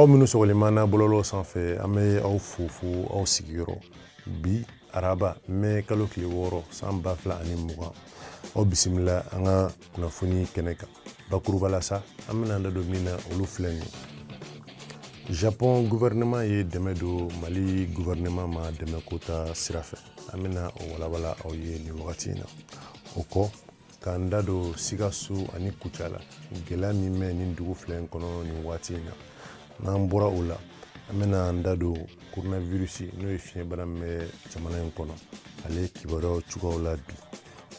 aw minnu sɔgɔlenman na bɔlɔlɔ sanfɛ an bɛ aw fo fo aw sigiyɔrɔ bi araba mɛ kalo tile wɔɔrɔ san ba fila ani mugan aw bisimila an ka kunnafoni kɛnɛ kan bakuruba la sa an bɛna an da don min na olu filɛ nin ye japɔn guvɛrɛnɛman ye dɛmɛ don mali guvɛrɛnɛman ma dɛmɛ ko ta sira fɛ an bɛna o walawala aw ye nin wagati in na o kɔ k'an da don sikaso ani kucala gɛlɛya min bɛ nin dugu fila in kɔnɔ nin waati in na n'an bɔra o la an bɛna an da don coronavirus n'o ye fiɲɛbana min bɛ jamana in kɔnɔ ale kibaruyaw cogoyaw la bi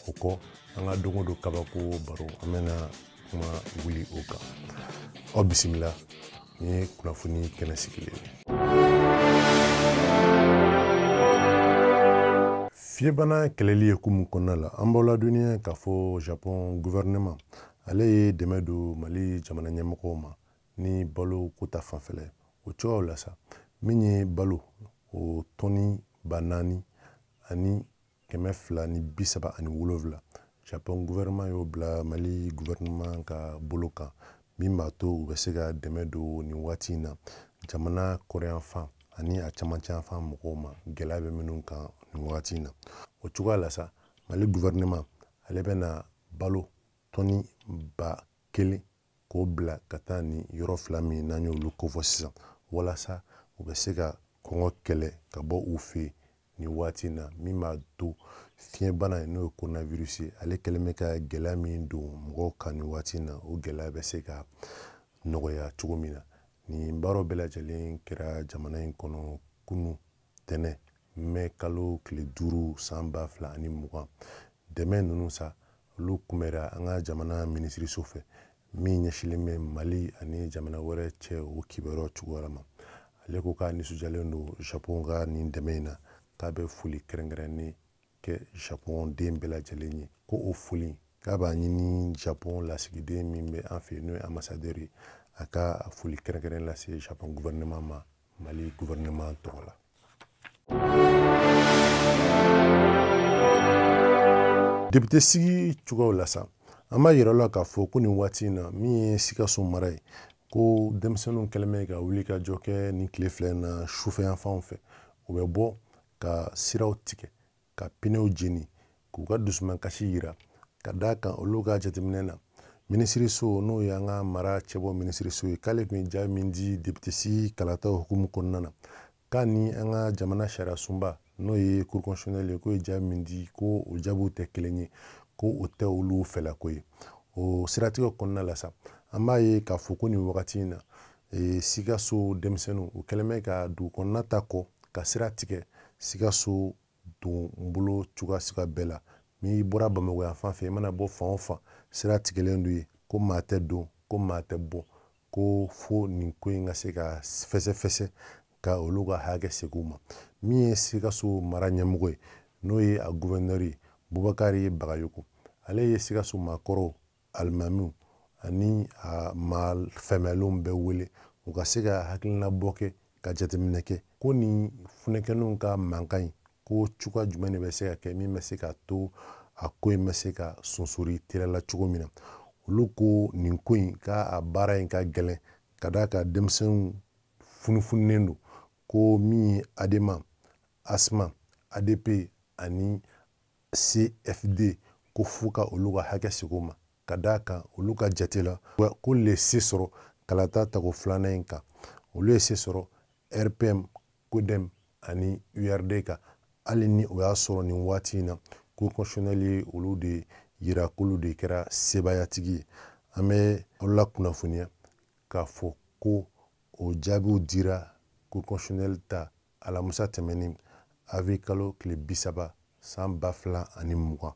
o kɔ an ka don o don kabako baro an bɛna kuma wuli o kan aw bisimila nin ye kunnafoni kɛnɛ sigilen ye fiɲɛbana kɛlɛli hukumu kɔnɔna la an b'aw ladɔnniya k'a fɔ japon guvɛrɛnɛma ale ye dɛmɛ don mali jamana ɲɛmɔgɔw ma ni balo ko ta fanfɛla ye o cogoyaw la sa min ye balo o tɔni ba naani ani kɛmɛ fila ni bi saba ani wolonwula japɔn guvɛrɛnman y'o bila mali guvɛrɛnman ka bolo kan min b'a to u bɛ se ka dɛmɛ don nin waati in na jamana kɔrɔnyanfan ani a camancɛyanfan mɔgɔw ma gɛlɛya bɛ minnu kan nin wagati in na o cogoya la sa mali guvɛrɛnman ale bɛna balo tɔni ba kelen k'o bila ka taa ni yɔrɔ fila min n'an y'olu kofɔ sisan walasa u bɛ se ka kɔngɔ kɛlɛ ka bɔ u fɛ yen nin waati in na min b'a to fiɲɛbana in n'o ye coronavirus ye ale kɛlen bɛ ka gɛlɛya min don mɔgɔw kan nin waati in na o gɛlɛya bɛ se ka nɔgɔya cogo min na nin baaraw bɛɛ lajɛlen kɛra jamana in kɔnɔ kunu tɛnɛ mɛ kalo tile duuru san ba fila ani mugan dɛmɛ ninnu sa olu kunbɛra an ka jamana minisiriso fɛ min ɲɛsinlen bɛ mali ani jamana wɛrɛ cɛ o kibaruyaw cogoya ma ale ko k'a nisɔndiyalen don japon ka nin dɛmɛ in na k'a bɛ foli kɛrɛnkɛrɛnnen kɛ japon den bɛɛ lajɛlen ye ko o foli k'a b'a ɲini japon lasigiden min bɛ an fɛ yen n'o ye anbasadɛri ye a ka foli kɛrɛnkɛrɛnnen lase japon guvɛrɛnɛman ma mali gouvernement tɔgɔ la depite sigi cogoyaw la sa an b'a yira aw la k'a fɔ ko nin waati in na min ye sikaso mara ye ko denmisɛnninw kɛlen bɛ ka wulikajɔ kɛ nin tile fila in na sufɛyanfanw fɛ u bɛ bɔ ka siraw tigɛ ka pinew jeni k'u ka dusumankasi yira ka d'a kan olu ka jateminɛ na minisiriso n'o y'an ka mara cɛbɔ minisiriso ye k'ale tun ye jaabi min di depite sigi kalataw hukumu kɔnɔna na k'a ni an ka jamana sariyasunba n'o ye cour constitutionnelle ye k'o ye jaabi min di ko o jaabiw tɛ kelen ye ko o tɛ olu fɛlako ye o siratigɛ kɔnɔna la sa an b'a ye k'a fɔ ko nin wagati in na e, sikaso denmisɛnninw u kɛlen bɛ ka dugu kɔnɔna ta kɔ ka sira tigɛ sikaso don bolo cogoya suguya bɛɛ la n'i bɔra bamakɔ yan fan fɛ i mana bɔ fan o fan sira tigɛlen don ye ko maa tɛ don ko maa tɛ bɔ ko fo nin ko in ka se ka fɛsɛfɛsɛ ka olu ka hakɛ segin u ma min ye sikaso mara ɲɛmɔgɔ ye n'o ye a guvɛnɛri ye bubakari bagayogo ale ye sikaso maakɔrɔw alimamiw ani a maa fɛmɛlenw bɛɛ wele u ka se ka hakilina bɔ kɛ ka jateminɛ kɛ ko nin funɛkɛninw ka mankan in ko cogoya jumɛn de bɛ se ka kɛ min bɛ se ka to a ko in bɛ se ka sonsori teliya la cogo min na olu ko nin ko in ka a baara in ka gɛlɛn ka d'a kan denmisɛnninw funufunulen don ko min ye adema asma adp ani cfd ko f'u ka olu ka hakɛ segin u ma ka d'a kan olu ka jate la k'olu ye se sɔrɔ kalata tako filanan in kan olu ye se sɔrɔ rpm kodɛm ani urd kan hali ni o y'a sɔrɔ nin waati in na cour constitutionnelle ye olu de yira k'olu de kɛra sebaayatigi ye an bɛ aw lakunnafoniya k'a fɔ ko o jaabiw dira cour constitutionnelle ta alamusa tɛmɛnen avril kalo tile bi saba san ba fila ani mugan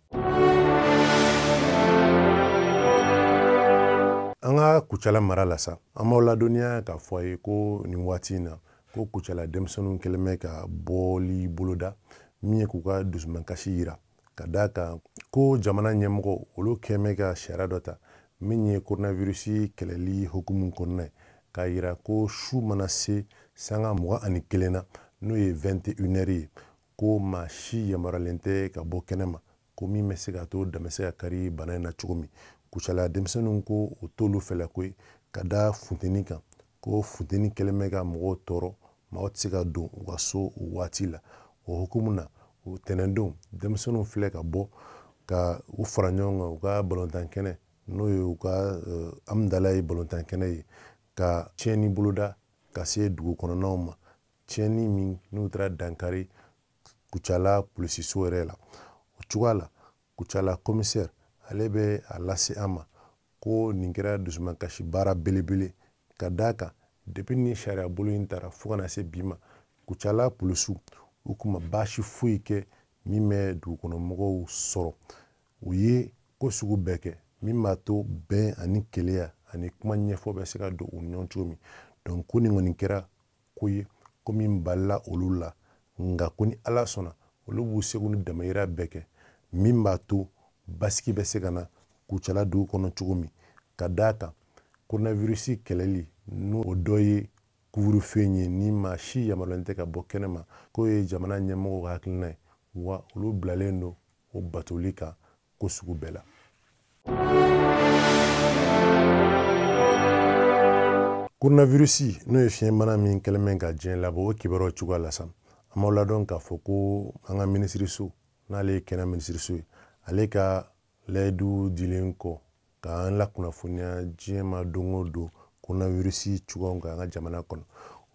an ka kucala mara la sa an b'aw ladɔnniya k'a fɔ aw ye ko nin waati in na ko kucala denmisɛnninw kɛlen bɛ ka bɔli boloda min ye k'u ka dusumankasi yira ka d'a kan ko jamana ɲɛmɔgɔw olu kɛlen bɛ ka sariya dɔ ta min ye koronawirusi kɛlɛli hukumu kɔnɔna ye k'a yira ko su mana se sanga mugan ani kelen na n'o ye 21 heure ye ko maa si yamaruyalen tɛ ka bɔ kɛnɛ ma ko min bɛ se ka to dan bɛ se ka kari bana in na cogo min kucala denmisɛnninw ko o t'olu fɛlako ye ka da funteni kan ko funteni kɛlen bɛ ka mɔgɔw tɔɔrɔ maaw tɛ se ka don u ka so o waati la o hukumu na o tɛnɛndon denmisɛnninw filɛ ka bɔ ka u fara ɲɔgɔn kan u ka balontan kɛnɛ n'o ye u ka eh, hamudalayi balontan kɛnɛ ye ka tiɲɛni boloda ka se dugu kɔnɔnaw ma tiɲɛni min n'u taara dankari kucala polisiso yɛrɛ la o cogoya la kucala komisɛri ale bɛ a lase an ma ko nin kɛra dusumakasi baara belebele ka d'a kan depi ni sariya bolo in tara fo ka na se bi ma kucala polisiw u kun ma baasi foyi kɛ min bɛ dugukɔnɔmɔgɔw sɔrɔ u ye ko sugu bɛɛ kɛ min b'a to bɛn ani kelenya ani kuma ɲɛfɔ bɛ se ka don u ni ɲɔgɔn cogo min donc ko nin kɔni kɛra ko ye ko min balila olu la nka ko ni ala sɔnna olu b'u seko ni damayira bɛɛ kɛ min b'a to basigi bɛ se ka na kucala dugu kɔnɔ cogo min ka d'a kan koronavirisi kɛlɛli n'o dɔ ye couvre-feu ye ni maa si yamaruyalen tɛ ka bɔ kɛnɛma k'o ye jamana ɲɛmɔgɔw ka hakilina ye wa olu bilalen don o batoli kan ko sugu bɛɛ la koronavirisi n'o ye fiɲɛbana min kɛlen bɛ ka diɲɛ labɔ o kibaruyaw cogoya la sa an b'aw ladɔn k'a fɔ ko an ka minisiriso n'ale ye kɛnɛya minisiriso ye ale ka layidu dilen kɔ k'an lakunnafoniya diɲɛ ma don o don koronavirisi cogoyaw kan an ka jamana kɔnɔ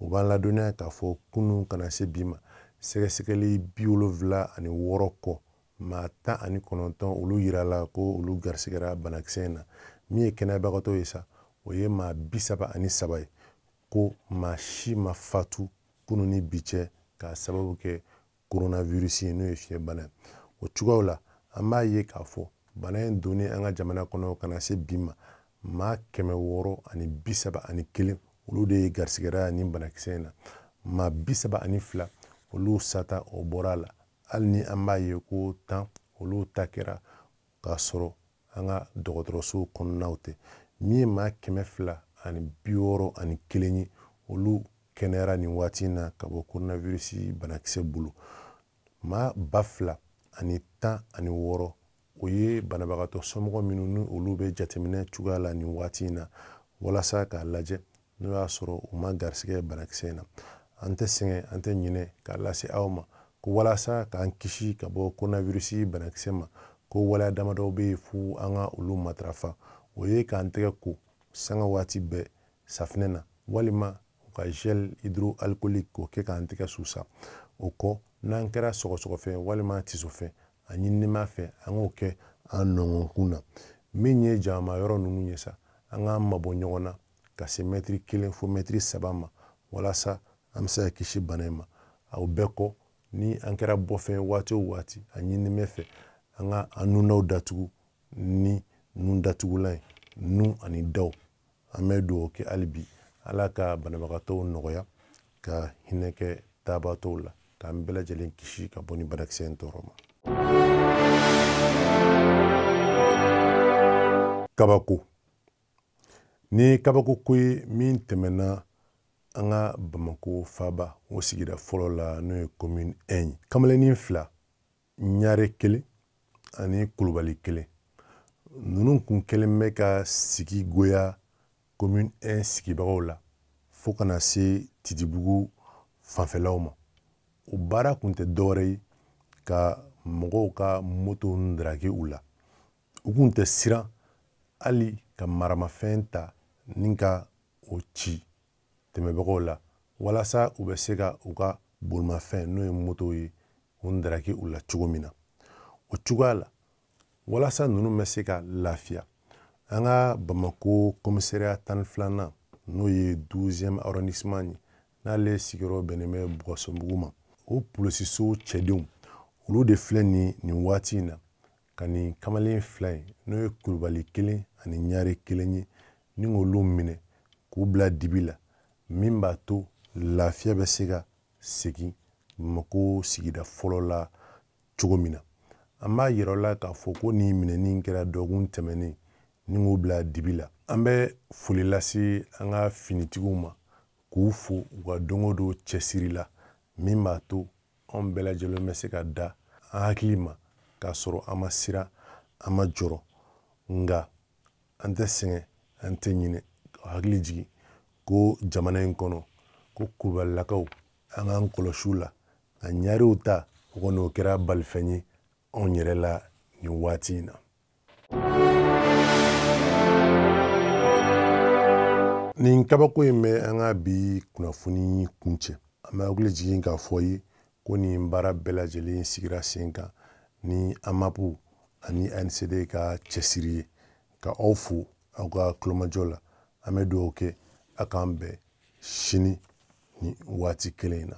o b'an ladɔnniya k'a fɔ kunun ka na se bi ma sɛgɛsɛgɛli bi wolonfila ani wɔɔrɔ kɔ maa tan ani kɔnɔntɔn olu yirala ko olu garisigɛra banakisɛ in na min ye kɛnɛyabagatɔw ye sa o ye maa bi saba ani saba ye ko maa si ma fatu kunu ni bi cɛ k'a sababu kɛ coronavirus ye n'o ye fiɲɛbana ye o cogoyaw la an b'a ye k'a fɔ bana in donni an ka jamana kɔnɔ ka na se bi ma maa kɛmɛ wɔɔrɔ ani bi saba ani kelen olu de ye garisigɛra nin banakisɛ in na maa bi saba ani fila olu sata o bɔra a la hali ni an b'a ye ko tan olu ta kɛra k'a sɔrɔ an ka dɔgɔtɔrɔso kɔnɔnaw tɛ min ye maa kɛmɛ fila ani bi wɔɔrɔ ani kelen ye olu kɛnɛyara nin waati in na ka bɔ coronavirus banakisɛ bolo maa ba fila ani tan ani wɔɔrɔ o ye banabagatɔ somɔgɔ minnu ni olu bɛ jateminɛ cogoya la nin waati in na walasa k'a lajɛ n'o y'a sɔrɔ u ma garisigɛ banakisɛ in na an tɛ sɛgɛn an tɛ ɲinɛ k'a lase aw ma ko walasa k'an kisi ka bɔ koronawirusi banakisɛ ma ko waleya damadɔw bɛ yen fo an ka olu matarafa o ye k'an tɛgɛ ko sanga waati bɛɛ safinɛ na walima u ka gel hydroalcoolique k'o kɛ k'an tɛgɛ susa o kɔ n'an kɛra sɔgɔsɔgɔfɛn walima tisofɛn a ɲininen b'an fɛ an k'o kɛ an nɔngɔnkun na min ye jama yɔrɔ ninnu ye sa an k'an mabɔ ɲɔgɔn na ka se mɛtiri kelen fo mɛtiri saba ma walasa an bɛ se ka kisi bana in ma o bɛɛ kɔ ni an kɛra bɔ fɛ waati o waati a ɲininen b'an fɛ an ka an nundaw datugu ni nun datugulan ye nun ani daw an bɛ dugawu kɛ hali bi ala ka banabagatɔw nɔgɔya ka hinɛ kɛ taabatɔw la k'an bɛɛ lajɛlen kisi ka bɔ nin banakisɛ in tɔɔrɔ ma kabako nin kabako ko ye min tɛmɛna an ka bamako faaba o sigida fɔlɔ la n'o ye commune 1 ye kamalennin fila ɲare kelen ani kulubali kelen ninnu kun kɛlen bɛ ka sigi goya commune 1 sigibagaw la fo ka na se titibugu fanfɛlaw ma o baara kun tɛ dɔwɛrɛ ye ka mɔgɔw ka moto ndaraki u la u kun tɛ siran hali ka maramafɛn ta ni ka o ci tɛmɛbagaw la walasa u bɛ se ka u ka bolimafɛn n'o ye moto ye o ndaraki u la cogo min na o cogoya la walasa ninnu bɛ se ka lafiya an ka bamako kɔmisariya tan ni filanan n'o ye douzième arrondissement ye n'ale sigiyɔrɔ bɛnnen bɛ bulukasunbugu ma o polisiso cɛdenw olu de filɛ nin waati in na ka nin kamalen fila in n'o ye kulubali kelen ani ɲare kelen ye ni k'olu minɛ k'u bila dibi la min b'a to lafiya bɛ se ka segin bamako sigida fɔlɔ la cogo min na an b'a yira aw la k'a fɔ ko nin minɛni kɛra dɔgɔkun tɛmɛnen ni k'u bila dibi la an bɛ foli lase an ka finitigiw ma k'u fo u ka don o don cɛsiri la min b'a to anw bɛɛ lajɛlen bɛ se ka da an hakili ma k'a sɔrɔ an ma siran an ma jɔrɔ nka an tɛ sɛgɛn an tɛ ɲinɛ ka hakili jigin ko jamana in kɔnɔ ko kulubalilakaw an k'an kɔlɔsi u la ka ɲarew ta o kɔni o kɛra balifɛn ye anw yɛrɛ la nin waati in na nin kabako in bɛ an ka bi kunnafoni kuncɛ an bɛ hakili jigin k'a f'aw ye ko nin baara bɛɛ lajɛlen sigira sen kan ni amapu ani ancd ka cɛsiri ye ka aw fo aw ka kulomajɔ la an bɛ dugawu kɛ a k'an bɛn sini nin waati kelen in na